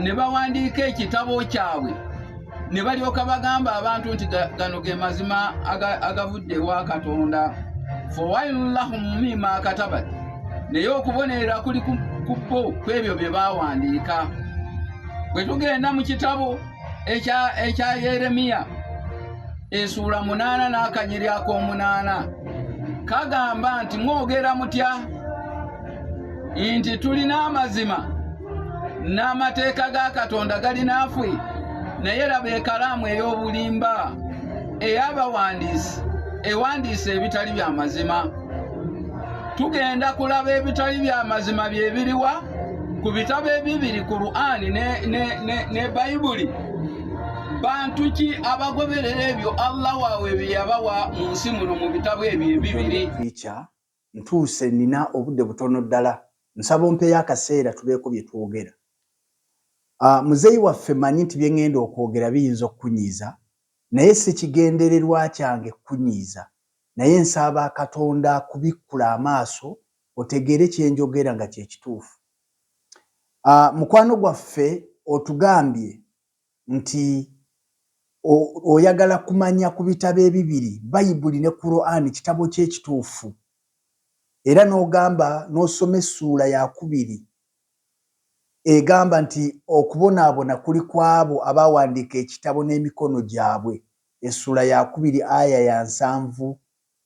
ne bawandiika ekitabo kyabwe ne balyoka bagamba abantu nti gano ge mazima agavudde ewa katonda fowailullahum mima katabat naye okubonerera kuli ku bo kwebyo bye bawandiika bwe tugenda mu kitabo ekya yeremiya esuula munaana n'akanyeri ak'omunaana kagamba nti mwogera mutya nti tulina amazima n'amateeka ga katonda gali naafwe naye laba ekalaamu ey'obulimba ey'abawandiisi ewandiisa ebitali bya mazima tugenda kulaba ebitali bya mazima bye biriwa ku bitabo ebibiri qur'ani ne, ne, ne, ne bayibuli bantu ki abagoberera ebyo allah waabwe bye yabawa mu nsi muno mu bitabo ebyo ebibiri Ntuuse, nnina obudde butono ddala. Nsaba ompeeyo akaseera tubeeko bye twogera. Ah, muzeeyi waffe, mmanyi nti bye ŋŋenda okwogera biyinza okukunyiiza, naye si kigendererwa kyange kukunyiiza. Naye nsaaba Katonda akubikkule amaaso otegeere kye njogera nga kye kituufu. Ah, mukwano gwaffe, otugambye nti oyagala kumanya ku bitabo ebibiri, Bayibuli ne Kuraani, kitabo ki ekituufu, era n'ogamba n'osoma essuula yakubiri egamba nti, Okubonaabona kuli ku abo abaawandiika ekitabo n'emikono gyabwe, essuula yakubiri aya ya nsanvu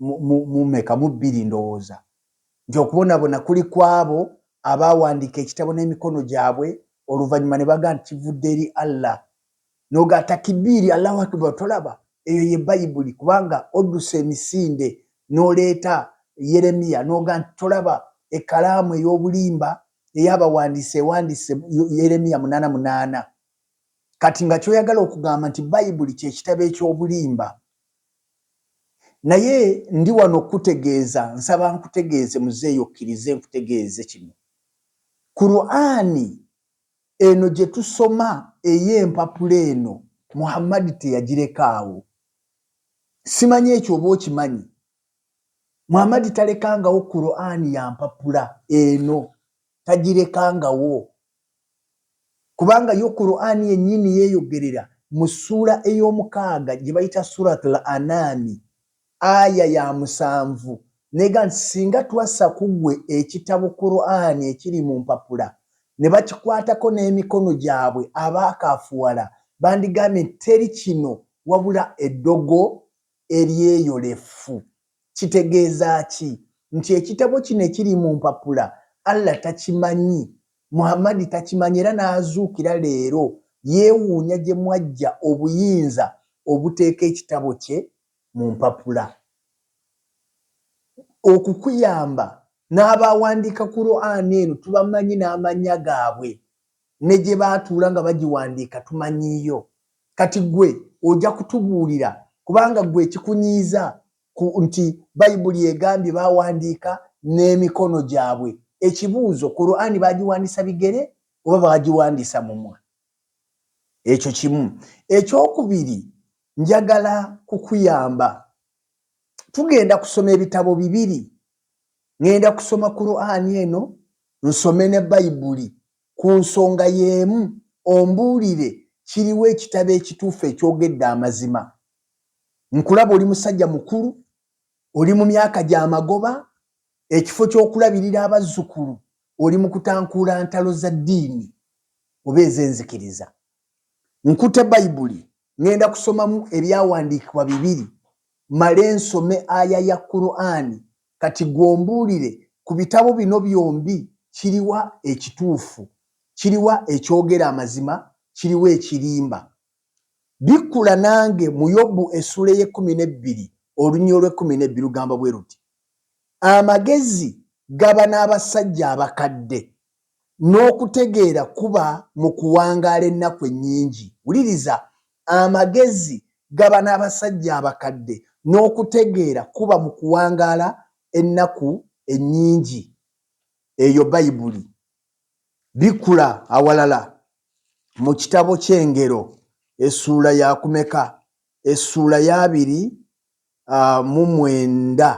mu, mu, mu meka? Mu bbiri, ndowooza, nti okubonabona kuli ku abo abaawandiika Ekitabo n'emikono gyabwe, oluvannyuma ne baga nti kivudde eri Allah. N'oga takibiiri, Allahu Akbar, tolaba? Eyo ye Bayibuli, kubanga odduse emisinde n'oleeta Yeremiya, n'oga nti, Tolaba, ekkalaamu ey'obulimba ey'abawandiisi ewandiise Yeremiya munaana munaana. Kati nga ky'oyagala okugamba nti Bayibuli kye kitabo eky'obulimba, Naye ndi wano okukutegeeza, nsaba nkutegeeze muzeeyi okkirize nkutegeeze kino, Kuraani eno gye tusoma ey'empapula eno Muhammadi teyagirekaawo. Simanyi ekyo oba okimanyi? Muhammadi talekangawo Kuraani ya mpapula eno, tagirekangawo. kubanga yo Kur'ani yennyini yeeyogerera mu ssuula ey'omukaaga gye bayita Surat Al-Anaami aya ya musanvu n'egamba nti, Singa twassa ku ggwe ekitabo, Kur'ani, ekiri mu mpapula ne bakikwatako n'emikono gyabwe abaakaafuwala bandigambye nti, Teri kino wabula eddogo eryeyolefu. Kitegeeza ki nti ekitabo kino ekiri mu mpapula Allah takimanyi, Muhammad takimanyi era n'azuukira leero yeewuunya gye mwaggya obuyinza obuteeka ekitabo kye mu mpapula okukuyamba? N'abaawandiika Kuraane eno tubamanyi n'amannya gaabwe ne gye baatuula nga bagiwandiika tumanyiiyo. Kati ggwe oja kutubuulira kubanga ggwe ekikunyiiza ku nti Bayibuli egambye baawandiika n'emikono gyabwe. Ekibuuzo, Kuraani baagiwandisa bigere oba baagiwandisa mumwa? Ekyo kimu. Ekyokubiri, njagala kukuyamba. Tugenda kusoma ebitabo bibiri ŋŋenda kusoma Kuraani eno nsome ne Bayibuli ku nsonga y'emu ombuulire kiriwa ekitabo ekituufu ekyogedde amazima. Nkulaba oli musajja mukulu, oli mu myaka gya magoba, ekifo ky'okulabirira abazzukulu oli mu kutankuula ntalo za ddiini oba ez'enzikiriza. Nkutte Bayibuli Ŋŋenda kusomamu ebyawandiikibwa bibiri mmale nsome aya ya Kuraani. Kati ggwe ombuulire, ku bitabo bino byombi kiriwa ekituufu? Kiriwa ekyogera amazima? Kiriwa ekirimba? Bikkula nange mu Yobu essuula ey'ekkumi n'ebbiri olunyiriri olw'ekkumi n'ebbiri lugamba bwe luti, Amagezi gaba n'abasajja abakadde, N'okutegeera kuba mu kuwangaala ennaku ennyingi. Wuliriza, Amagezi gaba n'abasajja abakadde, n'okutegeera kuba mu kuwangaala ennaku ennyingi. Eyo Bayibuli. Bikula awalala, mu kitabo ky'Engero, essuula ya kumeka? Essuula y'abiri mu mwenda.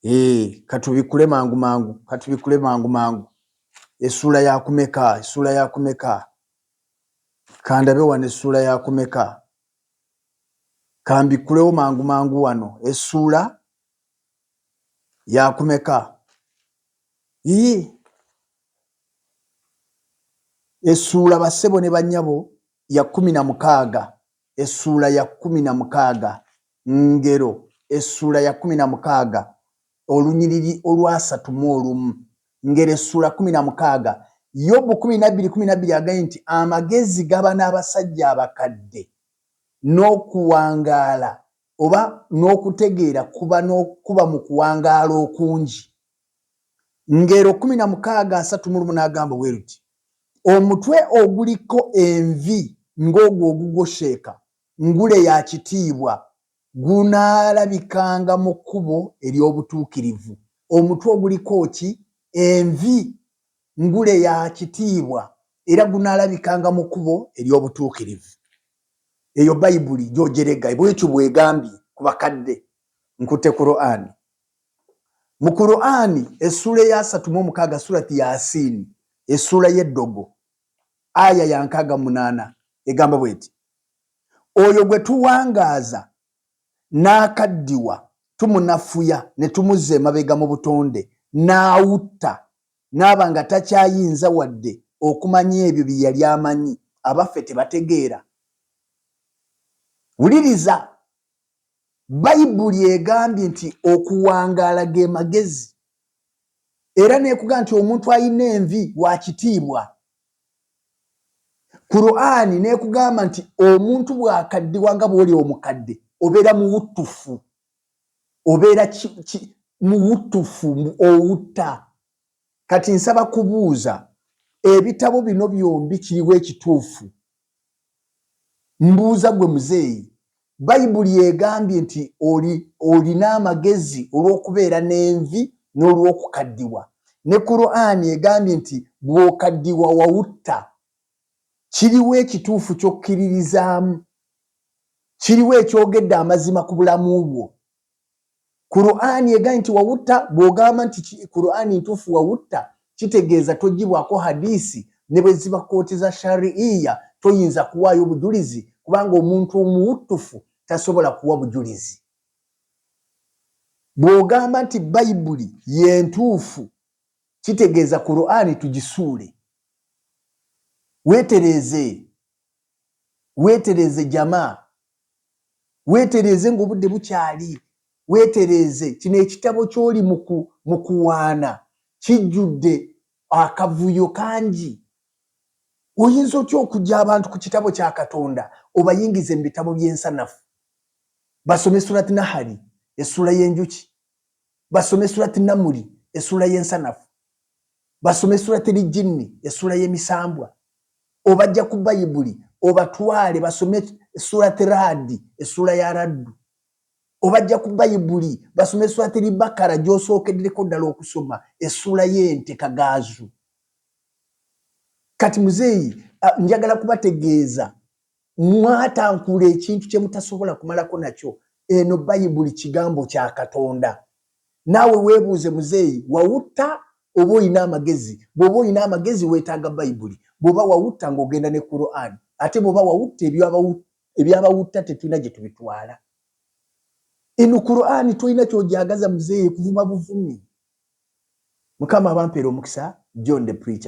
Eeh katubikule mangu mangu katubikule mangu mangu esula yakumeka esula yakumeka kandabe wano esula yakumeka kambikulewo mangu mangu wano esula yakumeka ii esula basebo ne banyabo ya kkumi na mukaaga essuula ya kkumi na mukaaga Ngero essuula ya kkumi na mukaaga olunyiriri olwasatu mu olumu Ngero essuula kkumi na mukaaga Yobu kkumi na bbiri kkumi na bbiri agaye nti amagezi gaba n'abasajja abakadde n'okuwangaala oba n'okutegeera kuba mu kuwangaala okungi. Ngero kumi na mukaaga asatu mu lumu n'agamba bwe luti, Omutwe oguliko envi ng'ogwo ogugwosheeka, ngule ya kitiibwa, gunaalabikanga mu kkubo ery'obutuukirivu. Omutwe oguliko ki? Envi, ngule ya kitiibwa, era gunaalabikanga mu kkubo ery'obutuukirivu. Eyo Bayibuli gy'ogyerega, bw'etyo bw'egambye ku bakadde. Nkutte Kuraani. Mu Kuraani essuula eyasatu mu omukaaga, Surati Yasin, essuula y'eddogo, Aya ya nkaaga mu munaana, egamba bw'eti, Oyo gwe tuwangaaza n'akaddiwa, tumunafuya ne tumuzza emabega mu butonde n'autta, n'aba nga takyayinza wadde okumanya ebyo bye yali amanyi, abaffe tebategeera? Wuliriza! Bayibuli egambye nti okuwangaala ge magezi era n'ekugaa nti omuntu alina envi wa kitiibwa. Kuraani n'ekugamba nti omuntu bw'akaddiwa nga bw'oli omukadde obeera muwuttufu, obeera muwuttufu owutta. Kati nsaba kubuuza ebitabo bino byombi kiriwa ekituufu? Mbuuza gwe muzeeyi, Bayibuli egambye nti olina amagezi olw'okubeera n'envi n'olw'okukaddiwa. Ne Kuraani egambye nti bw'okaddiwa wawutta. Kiriwa ekituufu ky'okkiririzaamu? Kiriwa ekyogedde amazima ku bulamu bwo? Kur'ani egaye nti wawutta bw'ogamba nti Kur'ani ntuufu wawutta kitegeeza toggyibwako hadiisi ne bwe ziba kkooti za shari'iyya toyinza kuwaayo bujulizi kubanga omuntu omuwuttufu tasobola kuwa bujulizi. Bw'ogamba nti Bayibuli ye ntuufu kitegeeza Kur'ani tugisuule. Weetereeze Weetereeze jama. Weetereeze ng'obudde bukyali. Weetereeze. Kino ekitabo ky'oli mu kuwaana kijjudde akavuyo kangi. Oyinza otya okuggya abantu ku kitabo kya Katonda obayingize mu bitabo by'ensanafu? Basome Surat Nahali, Essuula y'enjuki. basome surat namuli esula yensanafu basome surat lijinni esula yemisambwa obajja ku bayibuli obatwale basome surat radi esula ya raddu obajja ku bayibuli basome surat libakara gyosookeddereko ddala okusoma esula yente kagaazu kati muzeeyi njagala kubategeeza Mwatankula ekintu kye mutasobola kumalako nakyo. Eno Bayibuli Kigambo kya Katonda. Naawe weebuuze, Muzeeyi, wawutta oba olina amagezi? Bw'oba olina amagezi, weetaaga Bayibuli. Bw'oba wawutta, ng'ogenda ne Kuraani. Ate bw'oba wawutta, eby'abawutta tetulina gye tubitwala. Eno Kuraani tolina ky'ogyagaza, Muzeeyi, kuvuma buvumi. Mukama abampeere omukisa. John the Preacher.